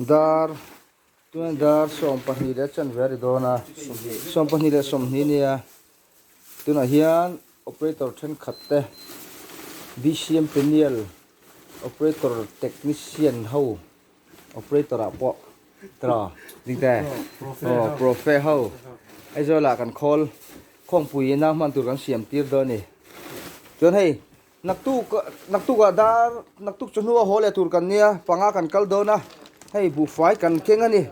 Dar, tunah dar sawm pahnih leh chanve a ri dawn a, sawm pahnih leh sawmhnih a nia. Tunah hian operator thenkhat te, BCM Peniel operator technician ho, operator ah pawh tra ding te, aw profe ho, Aizawlah kan call khawngpuiin a hman tur kan siam tir dawn a ni. Chuan hei Naktuk naktuk ah dar naktuk chu hnua haw leh tur kan nia panga kan kal dawn a hei buhfai kan keng a ni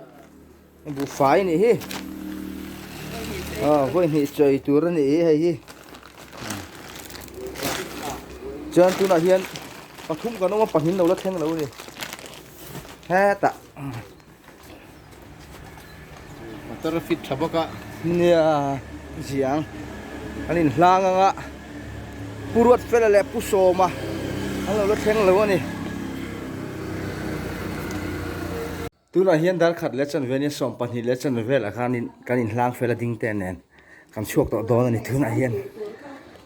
buhfai a nih hi aw vawihnihih chawih tur a nih hi hei hi chuan tunah hian pathum kan awm a pahnih in lo la thleng lo a ni hetah. Motor a fit tha bawk a. Nia ziang an in hlang ang a, Pu Ruatfela leh Pu Sawma an lo la thleng lo a ni. Tunah hian darkhat leh chanvenia sawm pahnih leh chanve velah khan kan in hlang fel a ding te nen kan chhuak tawh dawn a ni. Tunah hian.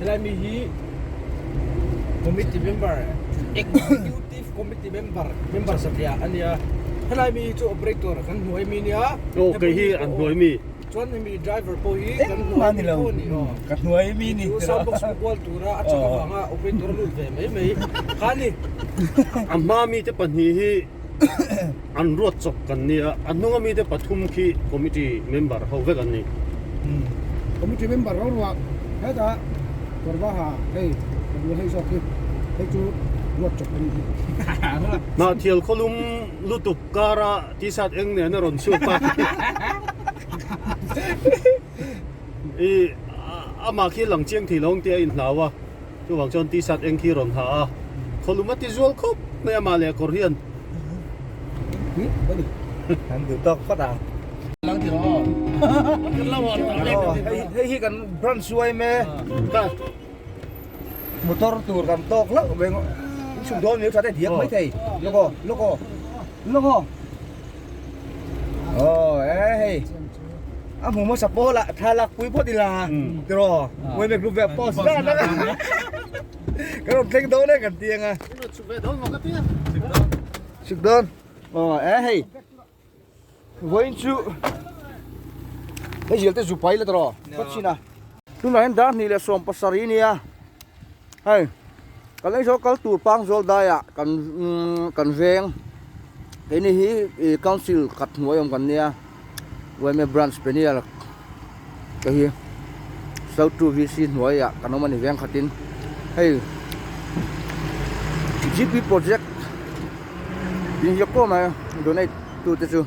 Helai mi hi committee member, executive committee member, member satliah a nia. Helai mi hi chu operator kan hnuai mi nia. Aw, kei hi an hnuai mi. Chuan hemi driver pawh hi kan hnuai mi pawh a ni aw. Ka hnuai mi ni tih a. Chu sound box pawh kual tura a chak avanga operator a lut ve mai mai. Khani. A hma mite pahnih hi. an ruat chawp kan nia. A hnunga mite pathum khi committee member ho vek an ni. Committee member ruaruah hetah kawr var ha hei ka duh hei zawk hi hei chu ruat chawp an ni. Hnahthial khawlum lutuk kara t-shirt eng nena rawn chhuak a i, amah khi langchiang thei lo ang tia a inhlau a. Chuvang chuan t-shirt eng khi rawn ha a, khawlum a ti zual khawp mai a, mahle a kawr hian kan duh tawk phawt ang. Kan ti rawh aw, hei hi kan branch chu a em e, motor tur kan tawk loh veng, in chhuk dawn a ni lo, thaten diak maithei, lawk aw, lawk aw, lawk aw. Oh, eh hei. A mu mo support la thalak pui pot ila. Tiro. Pui mek rup ve post la na. Ka rom thleng do ne kan tiang a. Chuk ve don mo ka tiang. Chuk don. Oh, eh hei. Voin chu. Hei jel te zupai la tiro. Ka china. Tunah hian Dar hnih leh sawm pasarih nia hei kan aizawl kal tur pang zawl daia kan kan veng keini hi council khat hnuai awm kan nia yma branch penial te hi sal two vc hnuaia kan awm a ni veng khatin hei gp project inziak tawh mai donate tute chu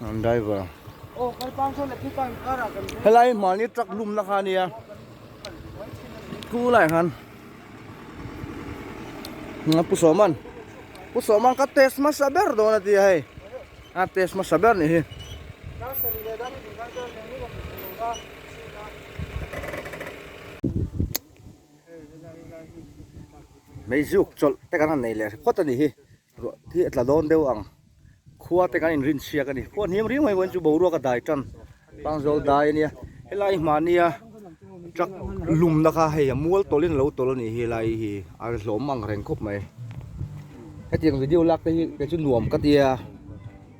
An driver helai mahni truck lumna kha nia tunlai khan nga pu soman pu soman ka test ma sa ber don atia hei a test ma sa ber ni hi mei zuk chawlh te kan han nei leh phawt a ni hi Ruah hi a tla dawn deuh ang. Khua te kan in rin chhiak a ni. Khua hniam riau mai pawhin chu boruak a dai tan. Bang zawk dai a nia. Helai hmahnia truck lumna kha hei a mual tawlhin a lo tawlh a nih hi helai hi a ri hlawm ang reng khawp mai. Hetiang video lak te hi kei chu nuam ka tia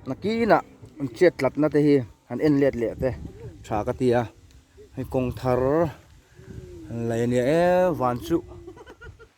nakinah an chet tlatna te hi han en let leh te tha ka tia hei kawng thar lei a nia e van chu.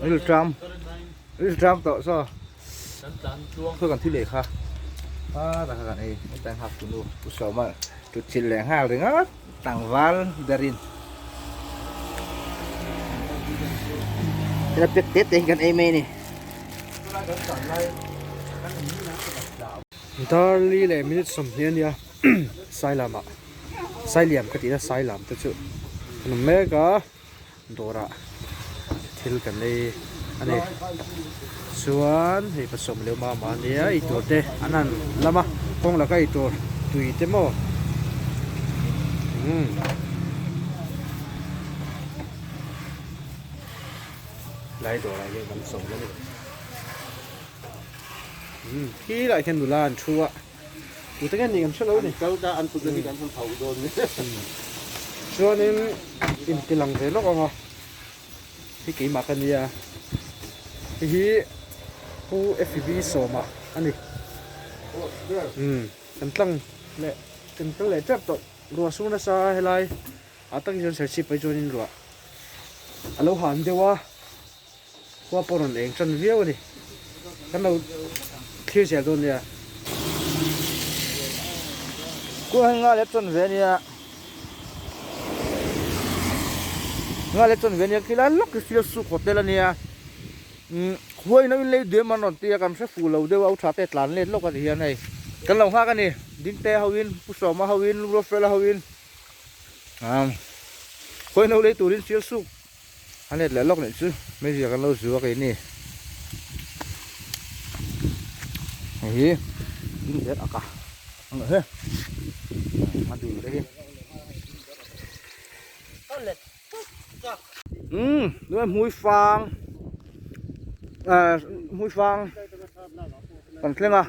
Ril tram Ril tram tawh saw Kan tlan tluang Saw kan thi leh kha A ta kha kan ei Hei ta nghak tunu Pu Sawma Tlutchil leh nghal ringawt Tlangval berin Tuna pek tete hi kan ei mai a ni Tuna kan tlan lai Kan in minute ah kan hla ang Darli leh minute sawmhnih a nia Sailam ah Sailiam ka tih a Sailam te chu Kan awm mek a. Dawrah thil kan ei a ni chuan hei ka sawm leh mah mah nia ei tur te an han lam a kawng la ka ei tur tui te maw umm lai dawrah hian kan sawm a ni umm khilaiah hian nula an thu a. Tute nge nih kan hre lo ni. Kal ka an kut hi kan hun hauh dawn ni. Chuanin intilang ve lawk ang a, hi keimah ka nia, hei hi Pu Fb Sawma a ni. Umm kan tlang leh kan kal leh tep tawh ruah su nasa a helai ah takin chuan serchhip pai chuan in ruah a lo han deuh a. Khua pawh rawn eng tan viau a ni. Kan lo thlir zel dawn nia. Khua hi nga leh tawn ve a nia. Nga leh tawn ve a nia. Khi lai lawk hi thlir suk haw tel a nia. Umm khua hi nauin lei duai man rawn ti a, kan hre fuh lo deuh a, u tha te tlan let lawk a ti hian hei. Kan lo nghak a ni. Dingtea ho in, Pu Sawma ho in, Lu Ruafela ho in. Umm khua hi no lei turin thlir suk. A net leh lawk nih chu media kan lo zu a kei ni. Hei hi in ber ak a ang lo he a dul te hi. Umm tunah hmuifang ah hmuifang kan thleng a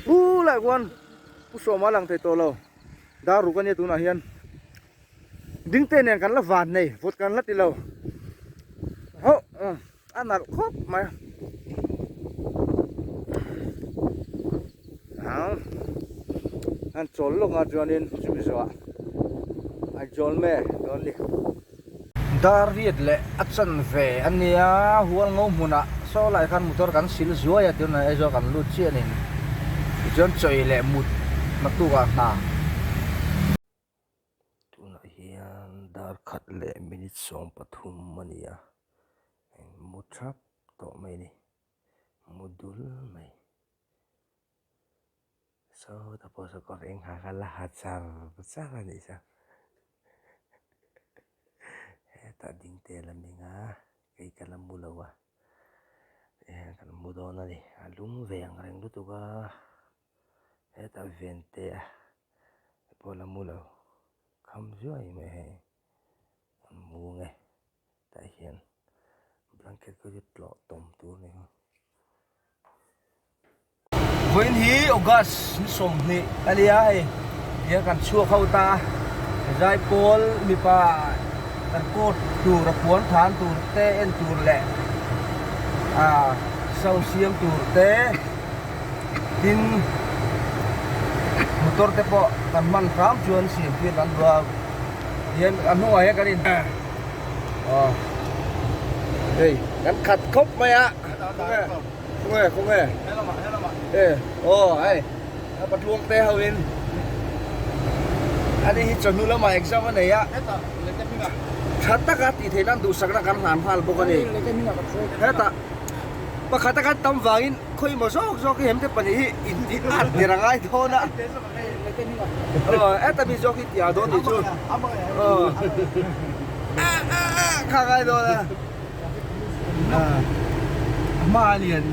pu lah khuan pu sawma lang thei tawh lo. dar ruk ania tunah hian ding te nen kan la van nei vawt kan la ti lo hauh a nalh khawp mai a ang an chawl lawkah chuanin chu mizoah a chawl me dawn a ni. Dar riat leh a chan ve a nia. Hual ngo hmunah saw lai khan motor kan sil zuai a tirna aizawl kan lut chianin tichuan chawi leh mut hna tukah hna. Tunah hian dar khat leh minute sawm pathum a ni a, eng mu thrap tawh mai a ni, mu dul mai. Saw te pawh saw ka veng ha ka la ha chang chang a nih chuan hetah ding te la meng a kei ka la mu lo a tih hian kan mu dawn a ni a lum ve ang reng lutuk a hetah vente a te pawh la mu lo kham zuai mai a hei a mu ang e. tah hian blanket ka ri tlawh tawm tur a ni ho. Vawiin hi August ni sawmhnih a nia hei, tiang kan chhuak ho ta, zai pawl mipa kan court tur a puan than tur te en tur leh ah sau siam tur te tin motor te pawh kan hman hram chuan siam fian an luau, tihian a hnungah hian kan in. Aw. Hei, kan khat khawp mai a. Khaw nge, khaw nge. Helama, helama. Eh, aw, hei. A pa tluang te ho in. Ani hi chawhnu lama exam a nei a. Heta, lehte hminga. Tha taka tih theih nan duhsakna kan hlan nghal bawk a ni. Heta, pakhata kan tam vangin. Khawi maw zawk zawk hi hemte pahnih hi inti ngat tir a ngai dawn a. Heta mi zawk hi tia dawn tih chu kha a ngai dawn a. A hma a lian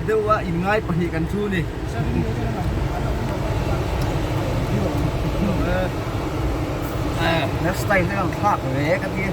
deuh a in ngai pahnih kan thu ni. Hair style te kan thlak ve ka ti a.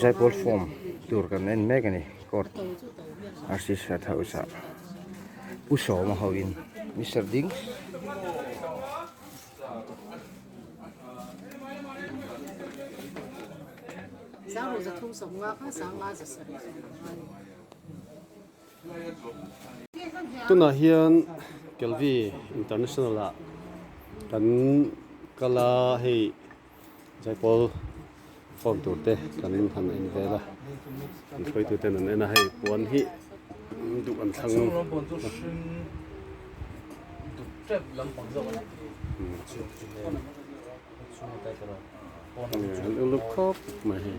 Zaipawr form tur kan en mek a ni court rcc house ah pu sawma ho in Mister ding tunah hian kelvi international ah kan kal a hei. Zaipâwl form tûr te kan han en vêl a, kan sawitu ten an en a, hei puan hi duh an thlang lo. An uluk khâwp mai hei.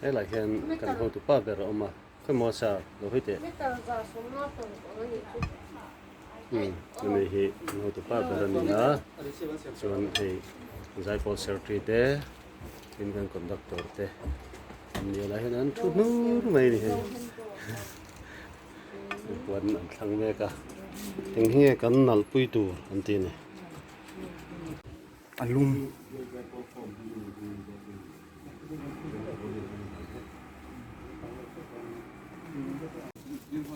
Helai hian kan hotu pa ber a awm a, khawimawh a sa lo hoi teh. Metal zah sawmna tawn ang a nih chu. Umm, a ni hi kan hotu pa ber a ni a, chuan hei zaipawh secretary te, tin kan conductor te an ni a, helai hian an thu hnu hnu mai a ni hei. An puan an thlang mek a. Eng hi nge kan nalh pui tur an ti a ni. A lung.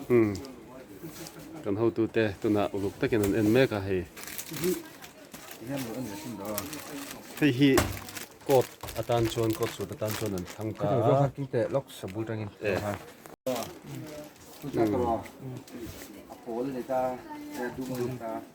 Umm. Kan hotu te tunah uluk takin an en mek a hei. Hei hi court atan chuan court suit atan chuan an thlang ta a. Zawk hak te lawk sa bul tangin a awm a. Umm. Umm. A pawl a ni ta a dum a ni ta a.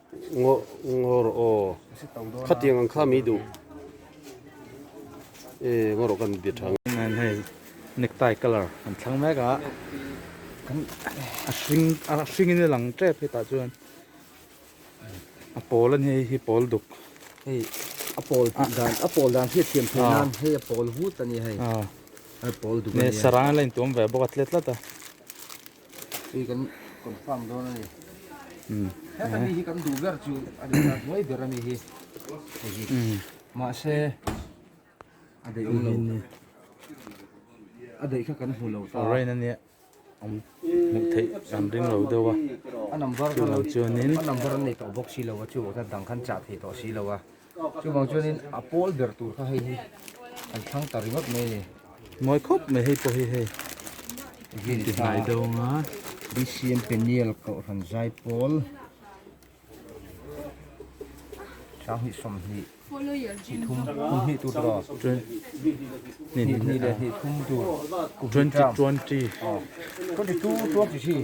Ngawh ngawh rawh aw, khatiang ang kha mi duh e, ngawh rawh kan be tha. Nen hei necktie colour kan thlang mek a, kan a hring a hringin a lang tep hetah chuan a pawl a ni hei hi pawl duk hei a pawl tih dan a pawl dan khi a thiam theih nan hei a pawl hut a ni hei a pawl duk a ni a saranga la intuam ve bawk a tle tlat a. Hei kan confirm dawn a ni. Umm. Heta mi hi kan duh ber chu a ni ta hnuai ber a mi hi. Hei hi. Umm. Mahse a daih awm lo. A daih kha kan hmu lo ta. Rain a nia. Awm hmuh theih kan ring lo deuh a. A number chu a lo chuan in. A number an nei tawh bawk si lo a chu. Heta dang khan chah thei tawh si lo a. Chuvang chuanin a pawl ber tur kha hei hi an thlang ta ringawt mai a ni. Mawi khawp mai hei pawh hi hei engtin ti hnai dawn a. BCM Peniel Kohhran zai pawl hrang hnih sawmhnih hnihthlum hnih tur tawh hnihnihnih leh hnihthlum tur twenty twenty twenty two twenty three.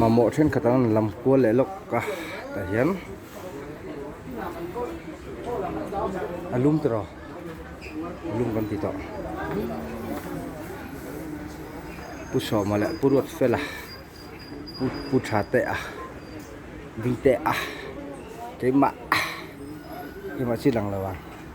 mamawh thenkhat an rawn lam kual leh lawk a tah hian a lum tawrh aw a lum kan ti tawh pu sawma leh pu ruatfela pu pu tha te a ding te a keimah keimah chi a lang lo a.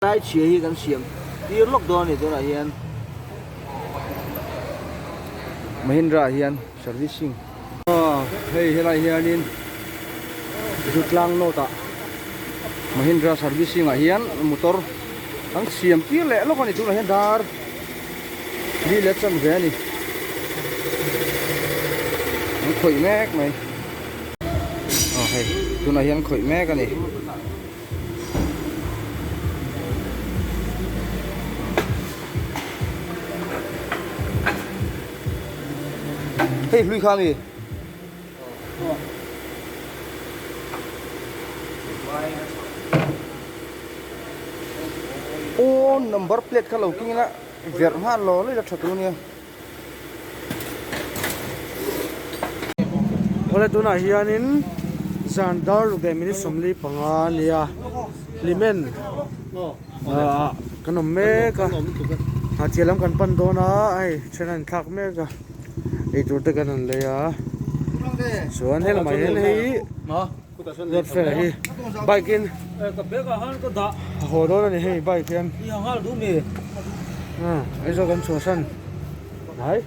Tlai chhia hi kan siam tir lawk dawn a ni tunah hian Mahindra-ah hian servicing. Hei helai hianin Zutlang Note-a Mahindra servicing-ah hian motor kan siam tir leh lawk a ni tunah hian dar hlui leh chan ve a ni. An khawih mek mai. aw hei tunah hian khawih mek a ni hei hlui kha mi aw number plate kha lo keng ina verh nghal law laih la tha tur a nia. Khawla tunah hianin zan darlu ve minute sawmli panga nia hlimen ah kan awm mek a hahchhiah lam kan pan dawn a a hei then a inthlak mek a eitur te kan rawn lei a chuan helamah hian hei-- Welfare hi bike in a haw dawn a ni hei bike hian ah aizawl kan chhuah san ai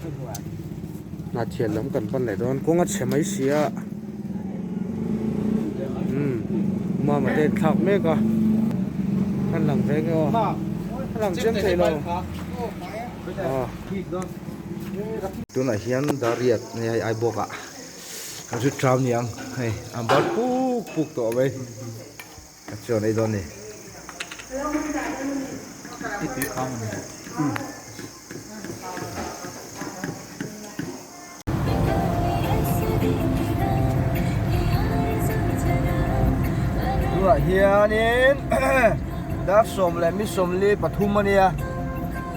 hnahthian lam kan pan leh dawn kawng a chhe mai sia umm mama te an thlak mek a an lang ve nge aw a lang chiang theih lo ah tunah hian Dariat nge a ai bawk a. Kan hre tram ni ang hei an bar puk puk tawh mai a chuan ei dawn ni i tui khang ani tunah hianin dark sawm leh mi sawmli pathum ania.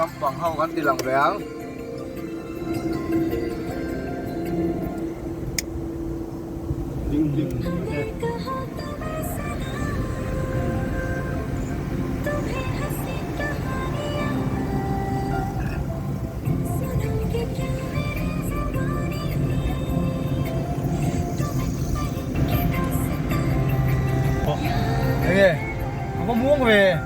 Lampang ho kan tih lang ve ang. Ding ding te.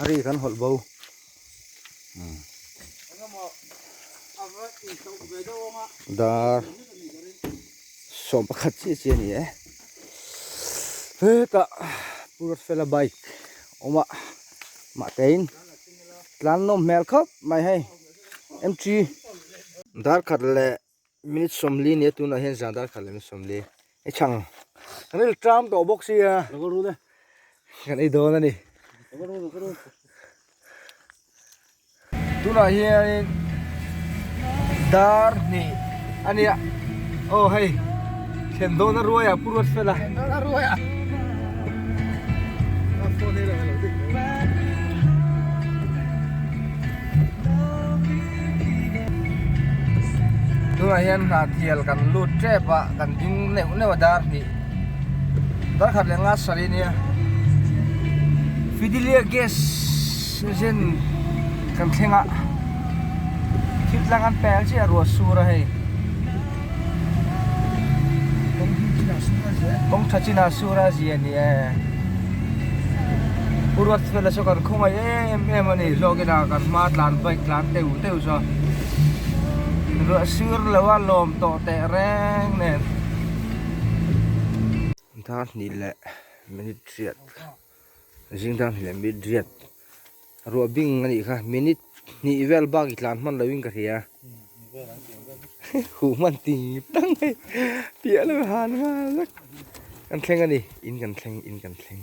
Ari kan hawlh bo. Dar sawm pakhat chiah chiah ni e. Hetah Purat fela bike awm a, mah tein tlan nawm hmel khawp mai hei. Mg. Darkhat leh Min sawmli nia tunah hian zan darkhat leh min sawmli i chhang kan i tlam tawh bawk sia kan i dawn a ni tunah hianin dar hnih a nia aw hei Thlen dawn a ruai a, pu ruat fel a. Thlen dawn a ruai a. Tunah hian hna thial kan lut tep a, kan ding neuh neuh a dar hnih. Darkhat leh nga sari a nia. Fidelia gas engine kan thleng a. Thil tlang an pel chiah a, ruah sur a hei. Kawng tha chin ah sur a zia ni e. U Ruat fel ah chu kan khawngaih em em a ni. Hlawk in ah kan hma tlan bike tlan teuh teuh chu a ruah sur lo a lawm tawh teh reng nen. Zingdang hnih leh minute riat zingdang hnih leh minute riat. Ruahbing anih kha minute hnih vel bak itlan hman loin ka hria. Huh hman ti dang mai piah lo han nghal vek. Kan thleng ani in kan thleng in kan thleng.